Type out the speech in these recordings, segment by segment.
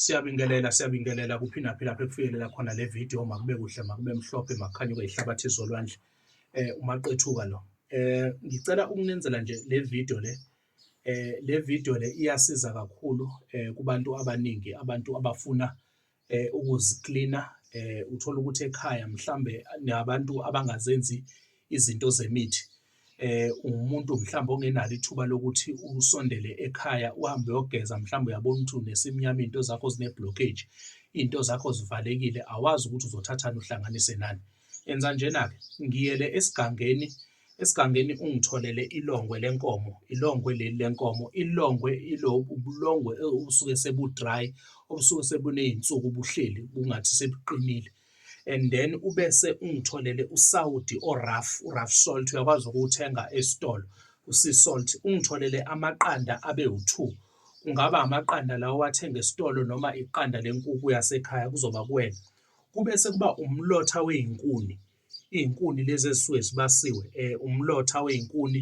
Siyabingelela siyabingelela kuphi naphi lapho ekufikelela khona le video makube kuhle makube mhlophe makukhanye kweyihlabathi zolwandle eh umaqethuka lo eh ngicela ukunenzela nje le video le eh le video le iyasiza kakhulu eh kubantu abaningi abantu abafuna eh ukuziklina eh uthola ukuthi ekhaya mhlambe nabantu abangazenzi izinto zemithi eh umuntu mhlawumbe ongenalo ithuba lokuthi usondele ekhaya uhambe uyogeza mhlawumbe uyabona ukuthi unesimnyama into zakho zine blockage into zakho zivalekile awazi ukuthi uzothathana uhlanganise nani enza njena ke ngiyele esigangeni esigangeni ungitholele ilongwe lenkomo ilongwe leli lenkomo ilongwe ilobu ubulongwe obusuke sebudry obusuke sebunezinsuku buhleli kungathi sebuqinile and then ubese ungitholele uSaudi oRaf uRaf salt uyakwazi ukuwuthenga esitolo uSea salt ungitholele amaqanda abe u2 kungaba amaqanda lawo wathenga esitolo noma iqanda lenkukhu yasekhaya kuzoba kuwena kube sekuba umlotha wezinkuni izinkuni lezi ezisuke zibasiwe eh umlotha wezinkuni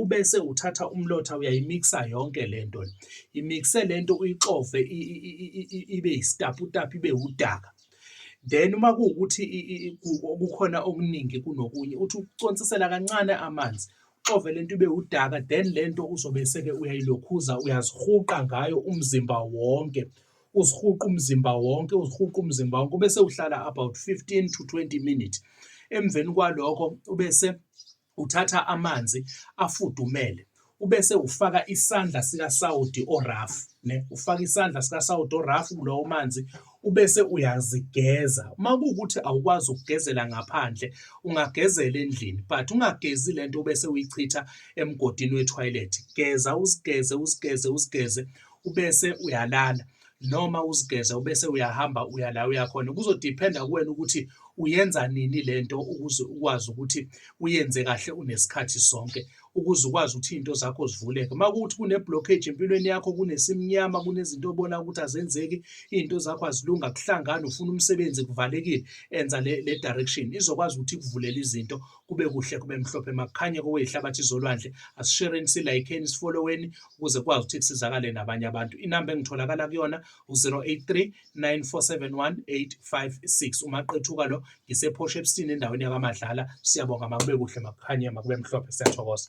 ubese uthatha umlotha uyayimikisa yonke le nto le imikise le nto uyixove ibe yisitaputapu ibe wudaka then uma kuwukuthi kukhona okuningi kunokunye uthi uconsisela kancane amanzi uxove le nto ibe wudaka then le nto uzobe seke uyayilokhuza uyazihuqa ngayo umzimba wonke uzihuqa umzimba wonke uzihuqa umzimba wonke ubese uhlala about 15 to 20 minutes emveni kwalokho ubese Uthatha amanzi afudumele ubese ufaka isandla sikasawoti orafu ne ufaka isandla sikasawoti orafu kulowo manzi ubese uyazigeza uma kuwukuthi awukwazi ukugezela ngaphandle ungagezela endlini but ungagezi le nto ubese uyichitha emgodini wethoyilethi geza uzigeze uzigeze uzigeze ubese uyalala noma uzigeza ubese uyahamba uya la uya khona kuzodiphenda kuwena ukuthi uyenza nini le nto ukuze ukwazi ukuthi uyenze kahle unesikhathi sonke ukuze ukwazi ukuthi iy'nto zakho zivuleke uma kuwuthi kune-blockage empilweni yakho kunesimnyama kunezinto obona ukuthi azenzeki iy'nto zakho azilunga kuhlangani ufuna umsebenzi kuvalekile enza le, le direction izokwazi ukuthi ikuvulele izinto kube kuhle kube mhlophe makukhanye koweyihlabathi zolwandle asishereni silayikheni sifolloweni ukuze kwazi ukuthi kusizakale nabanye abantu inamba engitholakala kuyona u-083 9471856 umaqethuka lo ngisephosha ebusini endaweni yakamadlala siyabonga makube kuhle makukhanye makube mhlophe siyathokoza